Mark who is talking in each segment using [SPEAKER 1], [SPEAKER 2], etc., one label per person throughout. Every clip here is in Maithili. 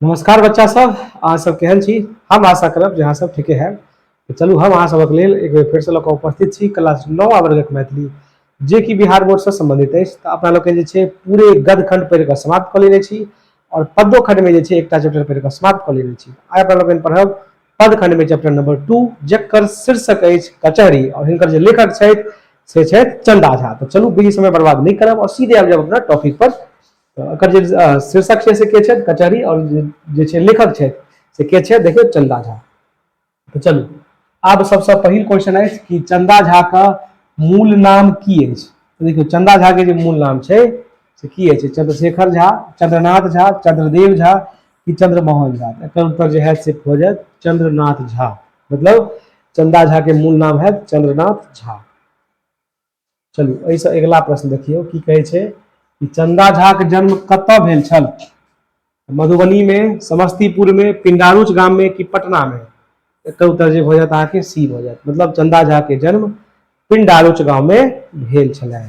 [SPEAKER 1] नमस्कार बच्चा सब अहाँ सब केहन छी हम आशा करब जे अहाँ सब ठीके है तऽ चलू हम अहाँ सबक लेल एक बेर फेरसँ लऽ कऽ उपस्थित छी क्लास नओ वर्गक मैथिली जे कि बिहार बोर्डसँ सम्बन्धित अछि तऽ अपना लोकनि जे छै पूरे गदखण्ड पढ़ि कऽ समाप्त कऽ लेने छी आओर पदो खण्डमे जे छै एकटा चैप्टर पढ़ि कऽ समाप्त कऽ लेने छी आइ अपना लोकनि पढ़ब पद खण्डमे चैप्टर नंबर टू जकर शीर्षक अछि कचहरी और हिनकर जो लेखक छथि से छथि चंदा झा तो चलू बीजी समय बर्बाद नहीं करब और सीधे आब जाब अपना टॉपिक पर तऽ एकर जे शीर्षक छै से के छथि कचहरी आओर जे छै लेखक छथि से के छथि देखियौ चन्दा झा तऽ चलू आब सबसँ पहिल क्वेश्चन अछि कि चन्दा झा के मूल नाम की अछि देखियौ चन्दा झा के जे मूल नाम छै से की अछि चंद्रशेखर झा चंद्रनाथ झा चंद्रदेव झा कि चंद्रमोहन झा एकर उत्तर जे है से भऽ जायत चंद्रनाथ झा मतलब चंदा झा के मूल नाम है चंद्रनाथ झा चलू एहिसँ अगिला प्रश्न देखियौ की कहै छै कि चंदा झाक जन्म कतय भेल छल मधुबनी में समस्तीपुर में पिंडारुच गाम में कि पटना में एक उत्तर जे भऽ जायत अहाँके सी भऽ जायत मतलब चंदा झा के जन्म पिंडारुच गाँव में भेल छलनि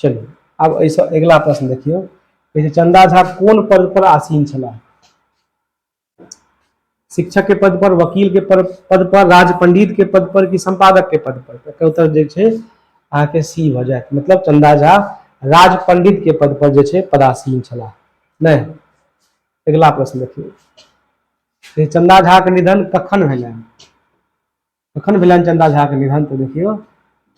[SPEAKER 1] चलू आब एहिसँ अगिला प्रश्न देखियौ कहै छै चंदा झा कोन पद पर आसीन छलाह शिक्षक के पद पर वकील के पर, पद पर राज पंडित के पद पर कि संपादक के पद पर तो एकर उत्तर जे छै अहाँके सी भऽ जायत मतलब चंदा झा राज पंडित के पद पर जे छै पदासीन छलाह नहि अगिला प्रश्न देखियौ चंदा झा के निधन कखन भेलनि तखन भेलनि चंदा झा के निधन तो देखियो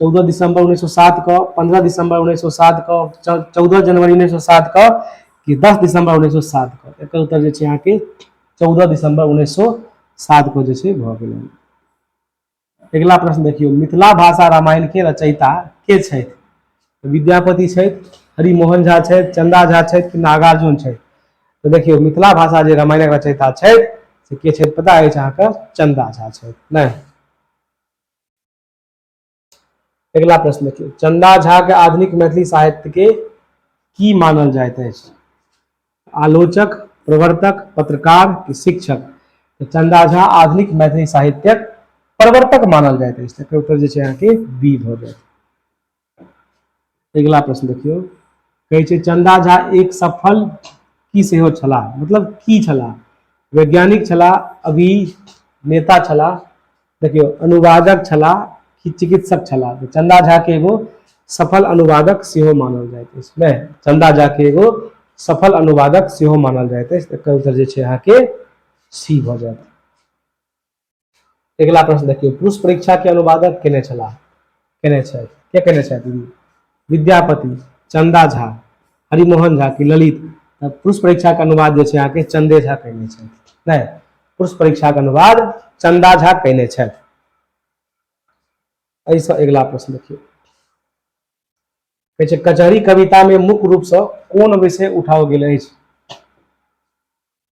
[SPEAKER 1] चौदह दिसंबर उन्नैस सए सात के पंद्रह दिसंबर उन्नैस सए सात के चौदह जनवरी उन्नैस सए सात के कि दस दिसंबर उन्नैस सए सात के एकर उत्तर जे छै अहाँके चौदह दिसंबर उन्नैस सए सात के जे छै भऽ गेलै अगिला प्रश्न देखियौ मिथिला भाषा रामायण के रचयिता के छथि विद्यापति छथि हरिमोहन झा छथि चंदा झा छथि कि नागार्जुन छथि तऽ देखियौ मिथिला भाषा जे रामायणक रचयिता छथि से के छथि पता अछि अहाँके चंदा झा छथि नहि अगिला प्रश्न देखियौ चंदा झा के आधुनिक मैथिली साहित्य के की मानल जाइत अछि आलोचक प्रवर्तक पत्रकार कि शिक्षक तऽ चंदा झा आधुनिक मैथिली साहित्यक प्रवर्तक मानल जाइत अछि तकर उत्तर जे छै अहाँके बी भऽ जायत अगिला प्रश्न देखियौ कहै छै चंदा झा एक सफल की सेहो छलाह मतलब की छलाह वैज्ञानिक छलाह अभी नेता छलाह देखियौ अनुवादक छलाह कि चिकित्सक छलाह तो चंदा झा के एगो सफल अनुवादक सेहो मानल जाए इसमें चंदा झा के एगो सफल अनुवादक सेहो मानल जाए अछि एकर उत्तर जे छै अहाँके सी भऽ जायत अगिला प्रश्न देखियौ पुरुष परीक्षा के अनुवादक केने छलाह केने छथि के केने छथि विद्यापति चंदा झा हरिमोहन झा की ललित पुरुष परीक्षा के अनुवाद जो है चंदे झा कहने छथि नहि पुरुष परीक्षा के अनुवाद चंदा झा कहने छथि एहिसँ अगिला प्रश्न देखियौ कहै छै कचहरी कवितामे मुख्य रूपसँ कोन विषय उठाओल गेल अछि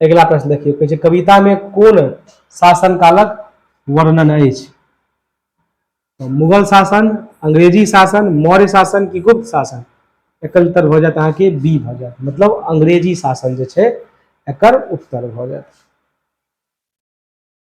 [SPEAKER 1] अगिला प्रश्न देखियौ कहै छै कवितामे कोन शासन कालक वर्णन अछि तऽ मुगल शासन अंग्रेजी शासन मौर्य शासन कि गुप्त शासन एकर उत्तर भऽ जायत अहाँके बी भऽ जायत मतलब अंग्रेजी शासन जे छै एकर उत्तर भऽ जायत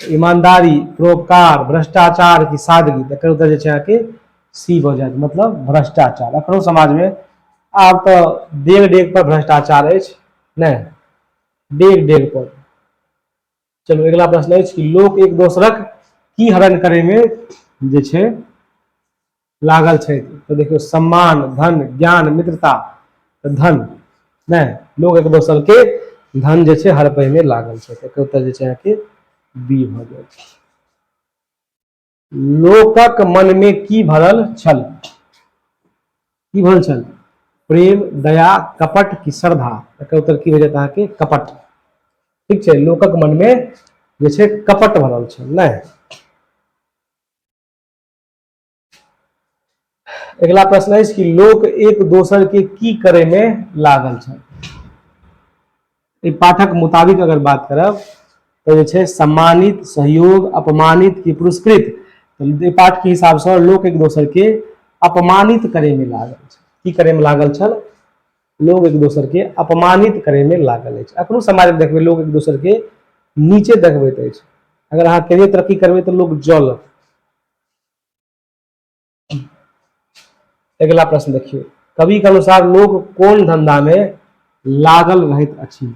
[SPEAKER 1] ईमानदारी परोपकार भ्रष्टाचार की सादगी तो एकर उत्तर जे के सी भऽ जायत मतलब भ्रष्टाचार अखनो समाज में आब तो डेग डेग पर भ्रष्टाचार अछि ने डेग डेग पर चलो अगला प्रश्न अछि कि लोक एक दोसरक की हरण करे में जे छै लागल छथि तऽ देखियौ सम्मान धन ज्ञान मित्रता धन नहि लोग एक दोसर के धन जे छै हड़पय में लागल छै एकर उत्तर जे छै अहाँके बी भऽ जाय छै लोकक मन में की भरल छल की भरल छल प्रेम दया कपट की श्रद्धा एकर उत्तर की हो जाता है कि कपट ठीक है लोकक मन में जैसे कपट भरल नहीं अगला प्रश्न है कि लोक एक दोसर के की करे में लागल छल एहि पाठक मुताबिक अगर बात करब तऽ जे छै सम्मानित सहयोग अपमानित कि पुरस्कृत तऽ एहि पाठके हिसाबसँ लोक एक दोसरके अपमानित करैमे लागल छल की करैमे लागल छल लोग एक दोसरके अपमानित करैमे लागल अछि एखनो समाजमे देखबै लोग एक दोसरके नीचे देखबैत अछि अगर अहाँ कहियो तरक्की करबै तऽ लोक जलत अगला प्रश्न देखियो कवि के अनुसार लोग कौन धंधा में लागल रहित अछि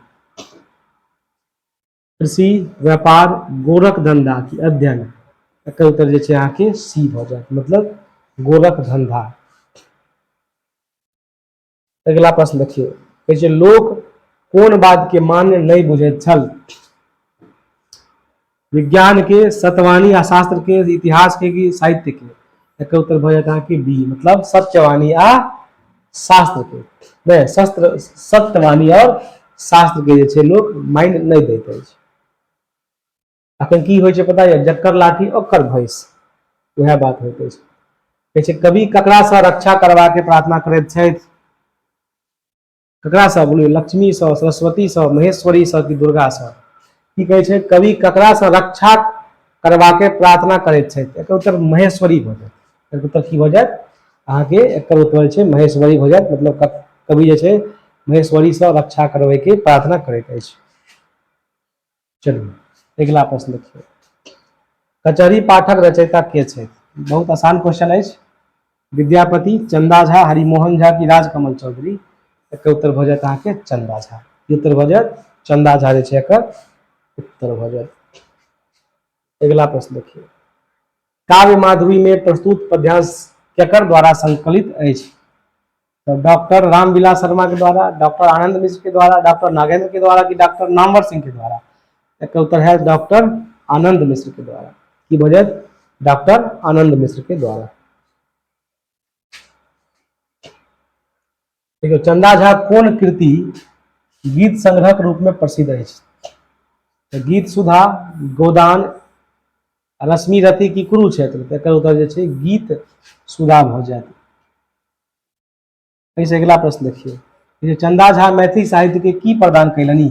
[SPEAKER 1] कृषि व्यापार गोरख धंधा की अध्ययन एकर उत्तर जे छै अहाँके सी भऽ जायत मतलब गोरख धंधा अगिला प्रश्न देखियौ कहै छै लोक कोन बातके मान्य नहि बुझैत छल विज्ञानके सतवाणी आ शास्त्रके इतिहासके कि साहित्यके एकर उत्तर भऽ जायत अहाँके बी मतलब सत्यवाणी आ शास्त्रके नहि शस्त्र सत्यवाणी आओर शास्त्रके जे छै लोक मानि नहि दैत अछि अखन की होइ छै पता यऽ जकर लाठी ओकर भैंस वएह बात होइत अछि कहै छै कवि ककरासँ रक्षा करबाके प्रार्थना करैत छथि ककरासँ बोलियौ लक्ष्मीसँ सरस्वतीसँ महेश्वरीसँ कि दुर्गासँ की कहै छै कवि ककरासँ रक्षा करबाके प्रार्थना करैत छथि एकर उत्तर महेश्वरी भऽ जायत एकर उत्तर की भऽ जायत अहाँके एकर उत्तर छै महेश्वरी भऽ जायत मतलब कवि जे छै महेश्वरीसँ रक्षा करबैके प्रार्थना करैत अछि चलिए अगिला प्रश्न देखिए कचहरी पाठक रचयिता के छे बहुत आसान क्वेश्चन है विद्यापति चंदा झा हरिमोहन झा की राजकमल चौधरी एक उत्तर भ जात अहाँके चंदा झा की उत्तर भ जात चंदा झा जे एक उत्तर भ जात अगला प्रश्न देखिए काव्य माधुरी में प्रस्तुत पद्यांश केकर द्वारा संकलित अछि तो डॉक्टर रामविलास शर्मा के द्वारा डॉक्टर आनंद मिश्र के द्वारा डॉक्टर नागेंद्र के द्वारा कि डॉक्टर नामवर सिंह के द्वारा एक उत्तर है डॉक्टर आनंद मिश्र के द्वारा की वजह डॉक्टर आनंद मिश्र के द्वारा देखियो चंदा झा कौन कृति गीत संग्रह के रूप में प्रसिद्ध है तो गीत सुधा गोदान रश्मि रति की कुरुक्षेत्र तो उत्तर जो गीत सुधा भऽ जायत एहिसँ अगिला प्रश्न देखियौ जे चंदा झा मैथिली साहित्यके की प्रदान कयलनि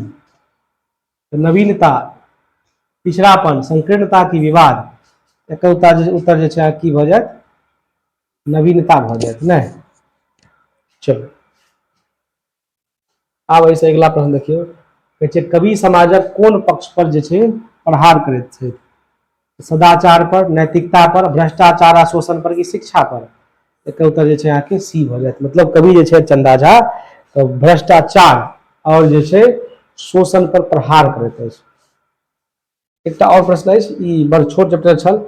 [SPEAKER 1] तऽ नवीनता पिछड़ापन संकीर्णता की विवाद एकर उत्तर जे उत्तर जे छै अहाँके की भऽ जायत नवीनता भऽ जायत नहि चलू आब एहिसँ अगिला प्रश्न देखियौ कहै छै कवि समाजक कोन पक्ष पर जे छै प्रहार करैत छथि सदाचार पर नैतिकता पर भ्रष्टाचार आ शोषण पर कि शिक्षा पर एकर उत्तर जे छै अहाँके सी भऽ जायत मतलब कवि जे छै चंदा झा तऽ भ्रष्टाचार आओर जे छै शोषण पर प्रहार करैत अछि एकटा और प्रश्न अछि ई बड़ छोट चैप्टर छल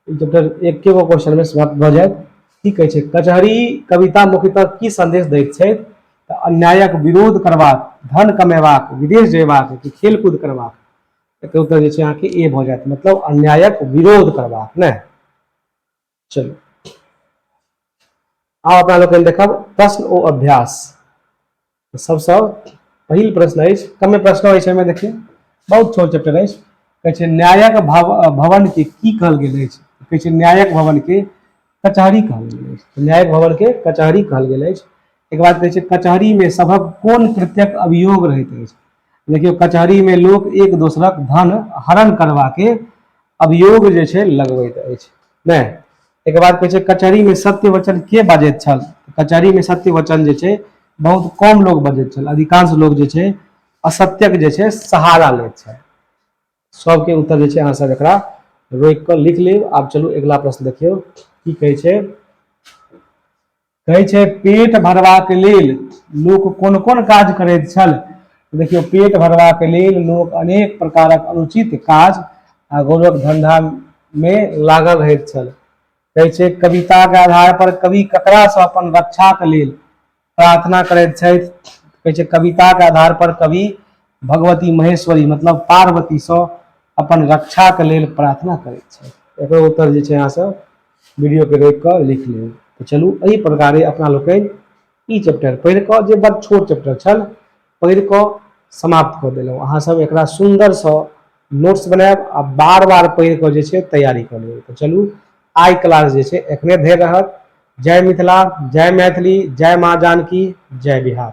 [SPEAKER 1] ई चैप्टर एके गो क्वेश्चन में समाप्त भ जायत की कहै छै कचहरी कविता मुख्यतः की संदेश दैत छै तऽ अन्यायक विरोध करबाक धन कमेबाक विदेश जयबाक कि खेलकूद करबाक एकर उत्तर जे छै अहाँके ए भऽ जायत मतलब अन्यायक विरोध करबाक नहि चलो आब अपना लोग देखब प्रश्न ओ अभ्यास तो सबसे पहिल प्रश्न है कमे प्रश्न हो एहिमे देखिए बहुत छोट चैप्टर है कहै छै न्यायक भव भवनके की कहल गेल अछि तो कहै छै न्यायक भवनके कचहरी कहल गेल अछि न्यायक भवनके कचहरी कहल गेल अछि एक बात कहै छै कचहरीमे सभक कोन कृत्यक अभियोग रहैत अछि देखियौ कचहरीमे लोक एक दोसरक धन हरण करबाके अभियोग जे छै लगबैत अछि नहि एक बात कहै छै कचहरीमे सत्य वचन के बाजैत छल कचहरीमे सत्य वचन जे छै बहुत कम लोक बजैत छल अधिकांश लोक जे छै असत्यक जे छै सहारा लैत छल सबके उत्तर जे छै अहाँ सब एकरा रोकि कऽ लिख लेब आब चलू अगिला प्रश्न देखियौ की कहै छै कहै छै पेट भरबाक लेल लोक कोन कोन काज करैत छल देखियौ पेट भरबाक लेल लोक अनेक प्रकारक अनुचित काज आ गौरव धंधामे लागल रहैत छल कहै छै कविताके आधार पर कवि ककरासँ अपन रक्षाक लेल प्रार्थना करैत छथि कहै छै कविताके आधार पर कवि भगवती महेश्वरी मतलब पार्वतीसँ अपन रक्षाके लेल प्रार्थना करैत छथि एकर उत्तर जे छै अहाँसभ वीडियोके रोकि कऽ लिख लेब तऽ चलू एहि प्रकारे अपना लोकनि ई चैप्टर पढ़ि कऽ जे बड़ छोट चैप्टर छल पढ़ि कऽ समाप्त कऽ देलहुँ अहाँसभ एकरा सुन्दरसँ नोट्स बनायब आ बार बार पढ़ि कऽ जे छै तैयारी कऽ लेब तऽ चलू आइ क्लास जे छै एखने धरि रहत जय मिथिला जय मैथिली जय माँ जानकी जय बिहार